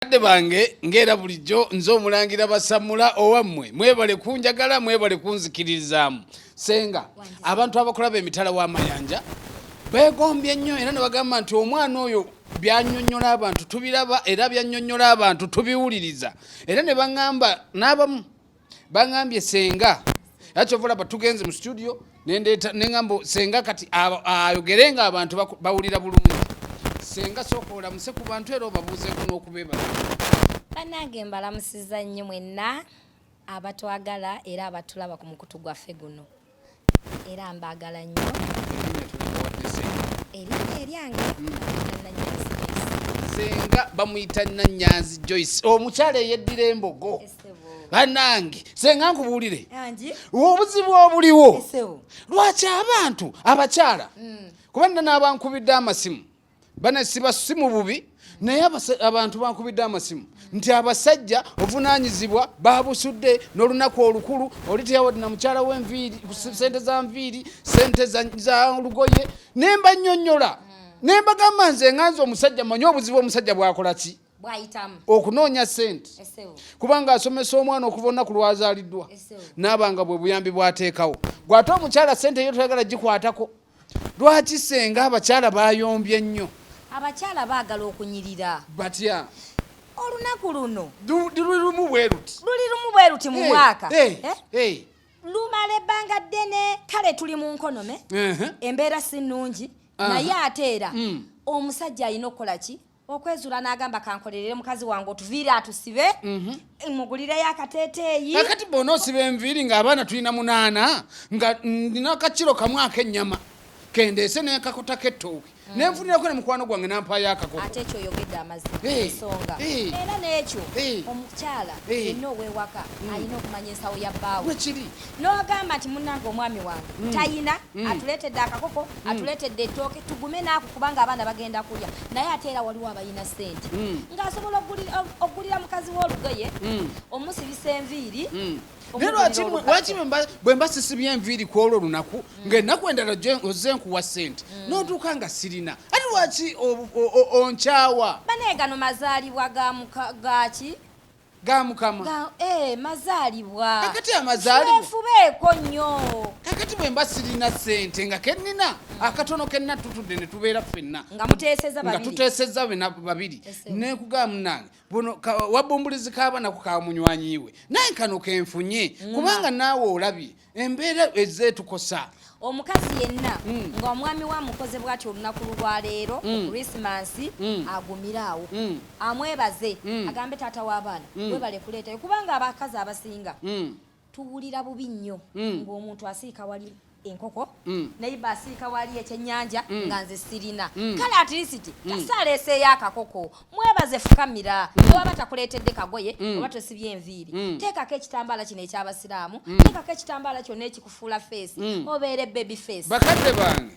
bakadde bange ng'era bulijjo nze omulangira basamula owammwe mwebale kunjagala mwebale kunzikiririzaamu senga abantu abakulaba emitala w'amayanja beegombye nnyo era ne bagamba nti omwana oyo byanyonyola abantu tubiraba era byanyonyola abantu tubiwuliriza era ne baŋŋamba n'abamu bangambye senga yakyovulaba tugenze mu studio nendeeta neŋambo senga kati ayogere nga abantu bawulira bulungi senga sooka olamuse ku bantu era obabuuzeeko n'okubebala banange mbalamusiza nnyo mwenna abatwagala era abatulaba ku mukutu gwaffe guno era mbagala nnyo erinnya eryange senga bamuyita nanyanzi joyce omukyala eyeddira embogo banange senga nkubuulire obuzibu obuliwo lwaki abantu abakyala hmm. kuba nna n'abankubidde amasimu bana siba si mu bubi naye abantu bankubidde amasimu nti abasajja ovunaanyizibwa babusudde n'olunaku olukulu oli teyawadi na mukyala wenviiri sente za nviiri sente za lugoye ne mba nnyonnyola hmm. ne mbagamba nze nganza omusajja manye obuzibu omusajja bwakola ki okunoonya sente kubanga asomesa omwana okuva olunaku lwazaaliddwa naaba nga bwe buyambi bwateekawo gwate omukyala sente eyo toyagala gikwatako Lwaki senga abakyala bayombye nnyo? Abakyala baagala okunyirira. Batya? Olunaku luno luli lumu bwe luti, luli lumu bwe luti mu mwaka eh? lumala ebbanga ddene, kale tuli mu nkonome, embeera si nnungi, naye ate era mm. omusajja alina okukola ki? okwezula n'agamba kankolerere mukazi wange otuviire atusibe mhm. mugulireyo akateeteeyi akati bona osiba enviiri ng'abaana tulina munaana nga ndina akakiro kamu ak'ennyama kendeese nekakota kettooke mm. nenfunirako ne mukwano gwange nampaayo akakoko ate ekyo oyogedde amazima ensonga era n'ekyo omukyala yenna ow'ewaka mm. alina okumanya ensawo ya bbaawe kiri n'ogamba nti munnange omwami wange mm. tayina mm. atuleetedde akakoko mm. atuleetedde ettooke tugume naaku kubanga abaana bagenda kulya naye ate era waliwo abayina ssente ng'asobola okugulira mukazi w'olugoye omusibisa enviiri bwe mba sisibye enviiri ku olwo olunaku ng'ennaku endala ozze nkuwa ssente n'otuuka nga sirina ati lwaki onkyawa banaye gano mazaalibwa gaki ga mukama ga eh mazalibwa kakati amazalibwa fubeko nyo kakati bwe mbasirina sente nga kenina akatono kenina tutude ne tubera fenna nga muteseza babiri nga tuteseza bena babiri ne kuga munange bono wabumbulizi kaba na kukamunyanyiwe naye kano kenfunye kubanga nawe olabye embeera ezeetukosa omukazi yenna hmm. nga omwami wa mukoze bwati olunaku lwaleero hmm. krisimansi hmm. agumire awo amwebaze agambe taata w'abaana webale kuleetayo kubanga abakazi abasinga tuwulira bubi nnyo ng'omuntu asiika wali enkoko mm. naye basiika wali ekyenyanja mm. nga nze sirina mm. kale atirisiti mm. kasaleeseeyo akakoko mwebaze fukamira mm. newaba takuleetedde kagoye mm. oba tosibye enviiri mm. teekako ekitambaala kino ekyabasiraamu teekako ekitambaala kyonna ekikufuula feesi obeere baby face bakadde bange